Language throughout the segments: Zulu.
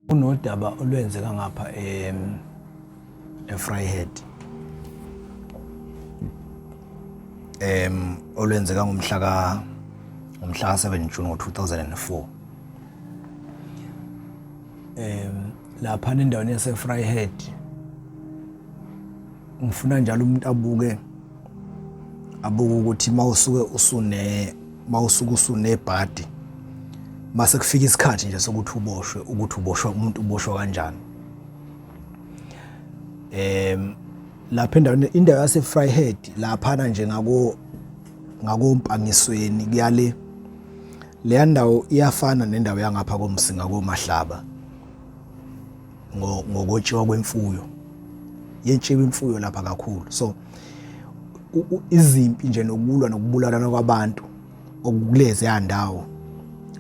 Kunodaba olwenzeka ngapha em eFryhead. Em olwenzeka ngomhla ka ngomhla ka 7 June ngo-2004. Em lapha nendaweni yaseFryhead ngifuna njalo umuntu abuke abuke ukuthi mawusuke usune mawusuke usunebhadi mase kufika isikhathi nje sokuthi uboshwe ukuthi uboshwa umuntu uboshwa kanjani em lapha endaweni indawo yase Fryhead lapha na nje ngako ngakompangisweni kuyale leya ndawo iyafana nendawo yangapha komsinga komahlaba ngokotshiwa kwemfuyo yetshiwa imfuyo lapha kakhulu so izimpi nje nokulwa nokubulalana kwabantu okukulezi yandawo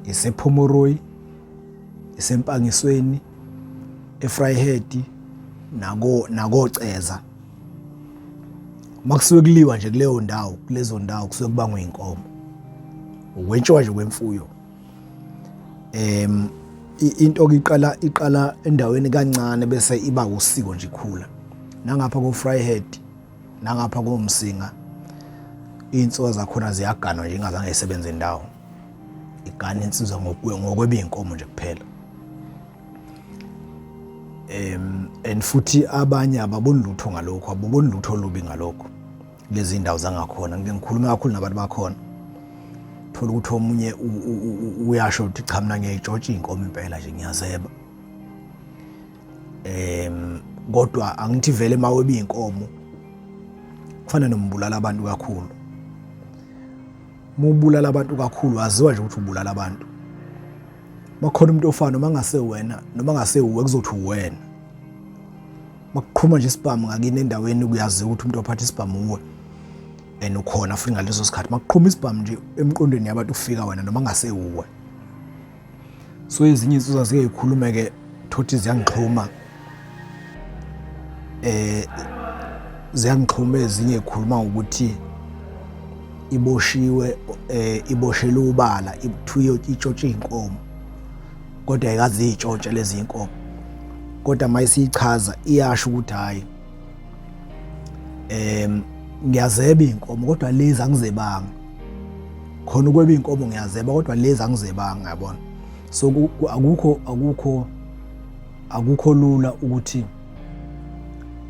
isephomoroyi isempangisweni efryhead nako nakoceza makusuke kuliwa nje kuleyo ndawo kulezo ndawo kusuke kubangwa inkomo ukwetshiwa nje kwemfuyo em into okiqala iqala endaweni kancane bese iba usiko nje ikhula nangapha ko Fryhead nangapha ko Msinga insuka zakhona ziyaganwa nje ingazange isebenze indawo igana insizwa ngokwe ngokwebinkomo nje kuphela em and futhi abanye ababoni lutho ngalokho ababoni lutho olubi ngalokho lezi ndawo zangakhona ngike ngikhulume kakhulu nabantu bakhona thola ukuthi omunye uyasho ukuthi cha mina ngiyayitshotsha iy'nkomo impela nje ngiyazeba um kodwa angithi vele uma weba iy'nkomo kufana nombulala abantu kakhulu uma ubulala abantu kakhulu waziwa nje ukuthi ubulala abantu bakhona umuntu ofana noma ngase wena noma ngase uwe kuzothi uwena makuqhuma nje isibhamu ngakini endaweni kuyaziwa ukuthi umuntu ophatha isibhamu uwe and ukhona futhi ngaleso sikhathi makuqhuma isibhamu nje emqondweni yabantu kufika wena noma ngasewuwe so ezinye insizwa ziyeyikhulume ke thothi ziyangixhuma eh ziyangixhuma ezinye ikhuluma ukuthi iboshiwe eh iboshelwe ubala ibuthiwe itshotshwe inkomo kodwa ayikaziyitshontshe lezi inkomo kodwa mayisiyichaza iyasho ukuthi hayi em ngiyazeba inkomo kodwa lezi angizebanga khona ukweba inkomo ngiyazeba kodwa lezi angizebanga yabona so akukho akukho akukho lula ukuthi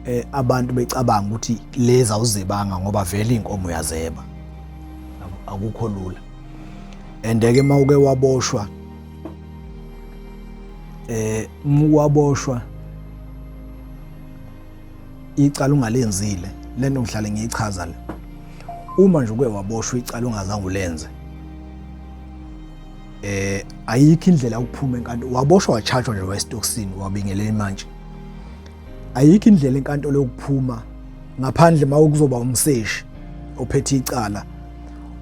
eh abantu becabanga ukuthi lezi awuzebanga ngoba vele inkomo yazeba akukho lula and ke mawuke waboshwa eh mukwaboshwa icala ungalenzile lento ngihlale ngiyichaza le uma nje uke waboshwa icala ungazange ulenze eh ayikho indlela ukuphuma enkantolo waboshwa wachargewa nje westokisini wabingelela imantshi ayikho indlela enkantolo yokuphuma ngaphandle uma kuzoba umseshi ophethe icala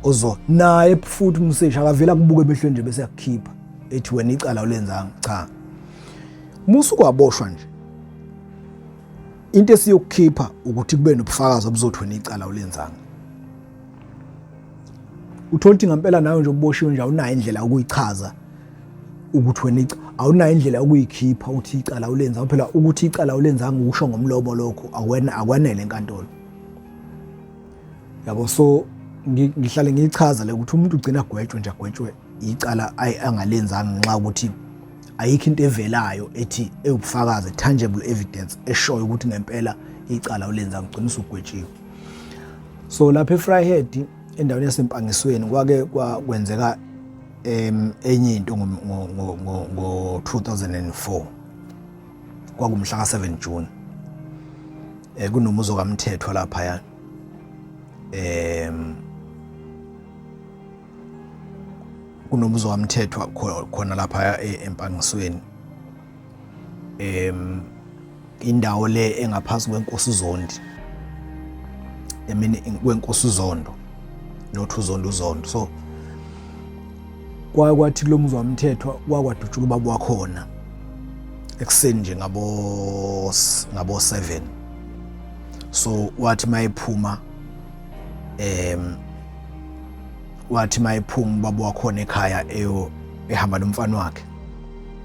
ozo naye futhi umseshi akavela kubuke emehlweni nje bese yakukhipha ethi wena icala ulenzanga cha musu kwaboshwa nje into esiyokukhipha ukuthi kube nobufakazi obuzothi wena icala ulenzanga uthola ukuthi ngempela nawe nje uboshiwe nje awunayo indlela yokuyichaza ukuthi wena awunayo indlela yokuyikhipha ukuthi icala ulenza phela ukuthi icala ulenzanga ukusho ngomlomo lokho akwena akwanele enkantolo yabo so ngihlale ngiyichaza le ukuthi umuntu ugcina agwetshwe nje agwetshwe icala angalenzanga ngenxa ukuthi ayikho into evelayo ethi ewubufakazi tangible evidence eshoyo ukuthi ngempela icala ulenza ngigcina usugwetshiwe so lapha eFryhead endaweni yasempangisweni kwake kwenzeka em enye into ngo ngo ngo 2004 kwakumhla ka 7 June eh kunomuzo kaMthethwa lapha ya em kunomuzo kaMthethwa khona lapha e, empangisweni em Indawo le engaphansi kwenkosi uZondi. Emini kwenkosi uZondo. Not uZondo uZondo. So kwathi lo muzwa mthethwa kwakwadutshula ubaba wakhona ekuseni nje ngabo ngabo 7 so wathi mayephuma em wathi mayephuma ubaba wakhona ekhaya eyo ehamba nomfana wakhe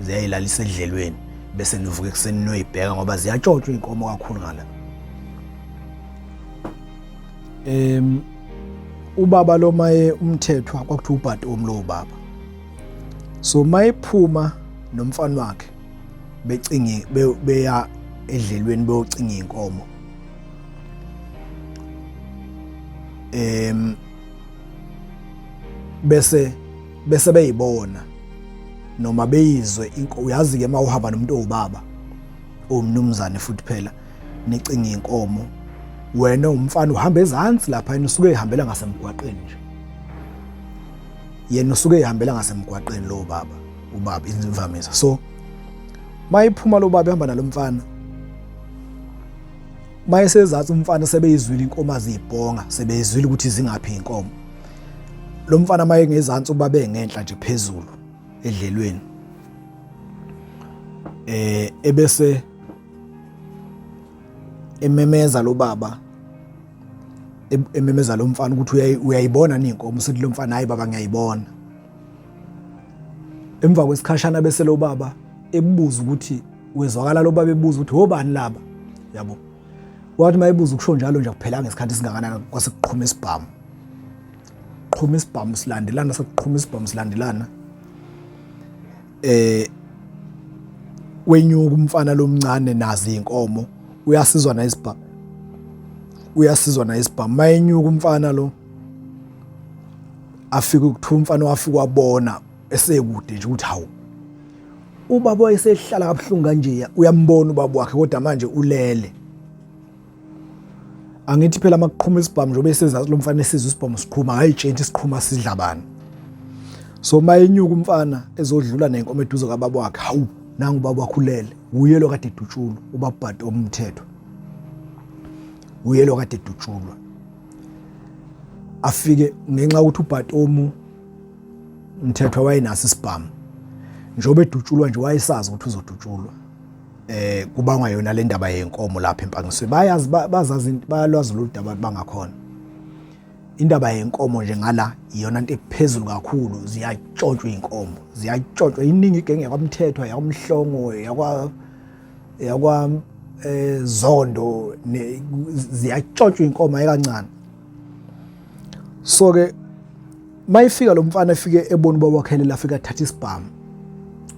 ziyayilalisa edlelweni bese nivuke ekuseni noyibheka ngoba ziyatshotshwa iy'nkomo kakhulu ngala um ubaba lo maye umthethwa kwakuthiwa ubhati omlowo baba so mayephuma nomfana wakhe becinge beya edlelweni beyocinga inkomo em bese bese beyibona noma beyizwe uyazi ke mawuhamba nomuntu owubaba owumnumzane futhi phela nicinga inkomo wena umfana uhamba ezansi lapha yena usuke ehambela ngasemgwaqeni nje yena usuke ehambela ngasemgwaqeni lo baba ubaba imvamisa so mayiphuma lo baba ehamba nalomfana mayesezathu umfana sebeyizwile inkomo azibhonga sebeyizwile ukuthi zingaphi inkomo lo mfana maye ngezantsi uba bengenhla nje phezulu edlelweni eh ebese ememeza lo baba ememeza lo mfana ukuthi uyayibona ni inkomo usethi lo mfana hayi baba ngiyayibona emva kwesikhashana bese lo baba ebubuza ukuthi wezwakala lo baba ebuza ukuthi hobani laba yabo Wathi mayibuza ukusho njalo nje kuphelanga isikhathi singakanani kwase kuqhuma isibhamu. Qhuma isibhamu silandelana sekuqhuma isibhamu silandelana. Eh wenyuka umfana lomncane nazi inkomo uyasizwa na isibhamu. Uyasizwa na isibhamu mayenyuka umfana lo afike ukuthiwa umfana wafika wabona esekude nje ukuthi hawu Ubaba wayesehlala kabuhlungu kanjeya uyambona ubaba wakhe kodwa manje ulele. Angithi phela makuqhuma isibhamu njengoba esezazi lo mfana esizwe isibhamu siqhuma akayitshenti siqhuma sidla bani. So mayenyuka umfana ezodlula nenkomo eduze kababa wakhe hawu nangu ubaba wakhe ulele uye lo kade edutshulwa ubabhadi omthetho. Uye lo kade edutshulwa. Afike ngenxa ukuthi ubhatomu umthethwa wayenaso isibhamu njengoba edutshulwa nje wayesazi ukuthi uzodutshulwa eh kubangwa yona le ndaba yenkomo lapha empangisweni bayazi bazazi bayalwazi lolu daba bangakhona indaba yenkomo nje ngala iyona into ephezulu kakhulu ziyatshotshwa inkomo ziyatshotshwa iningi igenge yakwamthethwa yakwamhlongo yakwa yakwa eh zondo ziyatshotshwa inkomo ayikancane so ke mayifika lo mfana efike ebona ubaba wakhe lela afika thatha isibhamu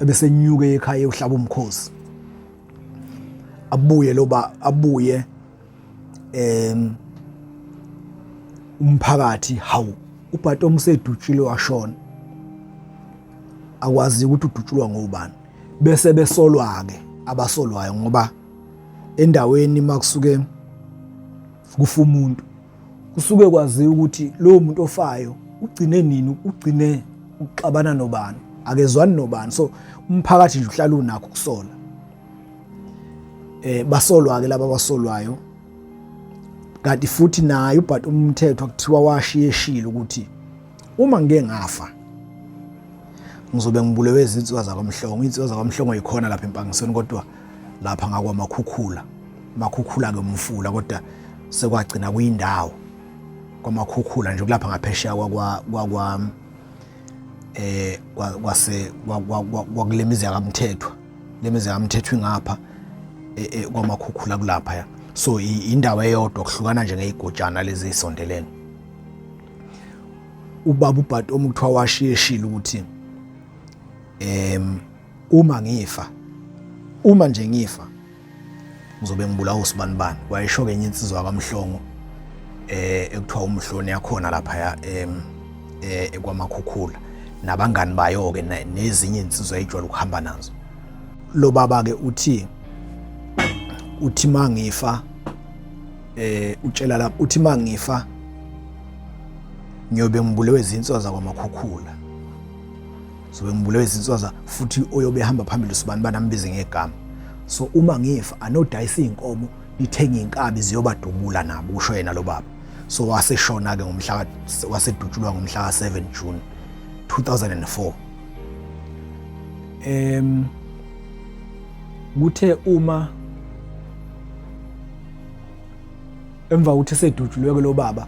ebesenyuke ekhaya uhlaba umkhosi abuye lo ba abuye em umphakathi hawu ubhato umsedutshile washona akwazi ukuthi udutshulwa ngobani bese besolwa ke abasolwayo ngoba endaweni makusuke kufa umuntu kusuke kwaziwa ukuthi lowo muntu ofayo ugcine nini ugcine ukuxabana nobani akezwani nobani so umphakathi nje uhlala unakho ukusola eh basolwa ke laba basolwayo kanti futhi naye ubhati umthetho kuthiwa washiyeshile ukuthi Uma ngike ngafa ngizobe ngibulewe izinsizwa zakwamhlongo. Izinsizwa zakwamhlongo yikhona lapha empangisweni kodwa lapha ngakwamakhukhula. Makhukhula-ke umfula kodwa sekwagcina kuyindawo kwamakhukhula nje kulapha ngaphesheya kwakwa eh kwase kwakulemizi yakamthethwa lemizi yakamthethwa ingapha e, e, kwamakhukhula kulapha ya so indawo eyodwa kuhlukana nje ngeyigojana lezi isondelene ubaba ubhati omuthiwa washiyeshile ukuthi em uma ngifa uma nje ngifa ngizobe ngibulawa usibani bani wayesho kenye insizwa kamhlongo eh ekuthiwa umhloni yakhona lapha em eh, ekwamakhukhula nabangani bayo ke nezinye insizwa ejwayele ukuhamba nazo lo baba ke uthi uthi mangifa eh utshela lapho uthi mangifa ngiyobe ngibulewe izinswa zakwamakhukhula sobe ngibulewe izinswa za futhi oyobe ehamba phambili usibani banambize ngegama so uma ngifa anodayisa izinkomo nithenge inkabi ziyobadubula nabo usho yena lo baba so waseshona ke ngomhla wasedutshulwa ngomhla ka 7 June 2004 em kuthe uma emva kokuthi esedutshulwe-ke lo baba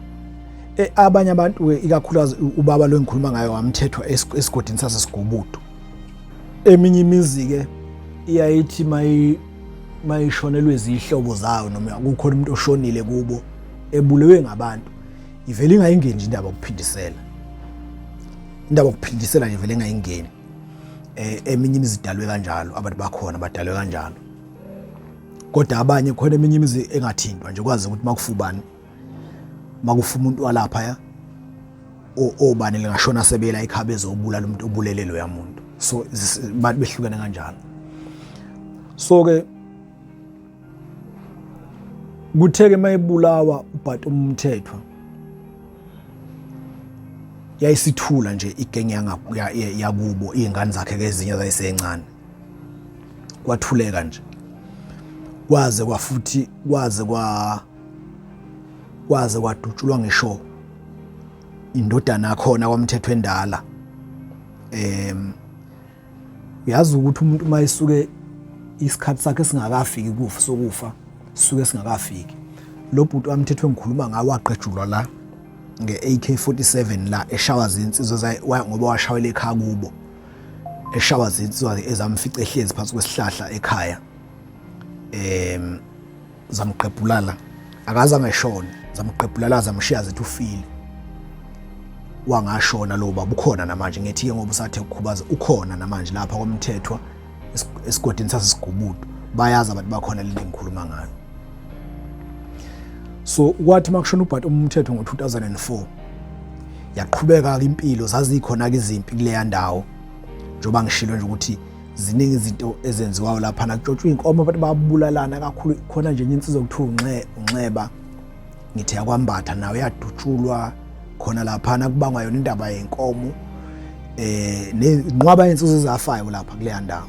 e, abanye abantu-ke ikakhulukazi ubaba lo engikhuluma ngayo wamthethwa esigodini sasesigubudu eminye imizi-ke iyayithi mayishonelwe izihlobo zayo noma kukhona umuntu oshonile kubo ebulewe ngabantu ivele ingayingeni nje indaba yokuphindisela indaba yokuphindisela nje vele ingayingeni um eminye imizi idalwe kanjalo abantu bakhona badalwe kanjalo kodwa abanye khona eminye imizi engathintwa nje kwazi ukuthi makufubani makufa umuntu walapha ya obani lingashona sebela ikhabe ezobulala umuntu obulele loya muntu so abantu behlukene kanjalo so ke kutheke mayebulawa ubhati umthethwa yayisithula nje igenge yakubo iy'ngane zakhe ke ezinye zayisencane kwathuleka nje kwaze kwafuthi kwaze kwa kwaze kwadutshulwa ngisho indodana yakhona kwamthetho endala em uyazi ukuthi umuntu uma esuke isikhathi sakhe singakafiki kufa sokufa suke singakafiki lo bhuti wamthetho engikhuluma ngawo waqejulwa la nge-AK47 la eshawa zinsizwa ngoba washawela ekhaya kubo eshawa zinsizwa ke ezamfica ehlezi phansi kwesihlahla ekhaya em zamqebhulala akaze angeshona zamqebhulala zamshiya zithi ufile wangashona lo baba ukhona namanje ngithi ke ngoba usathe ukukhubaza ukhona namanje lapha kwamthethwa esigodini sasesigubudu bayazi abantu bakhona lento engikhuluma ngayo so kwathi makushona ubhati umthetho ngo-2004 yaqhubeka-ke impilo zazikhona-ke izimpi kuleya ndawo njengoba ngishilo nje ukuthi ziningi izinto ezenziwayo lapha nakutshotshwa iy'nkomo abantu babulalana kakhulu khona nje enye insizwa okuthiwa unxeba ngithi yakwambatha nayo yadutshulwa khona laphana kubangwa yona indaba yenkomo eh nenqwaba yensuzo ezafayo lapha kuleya ndawo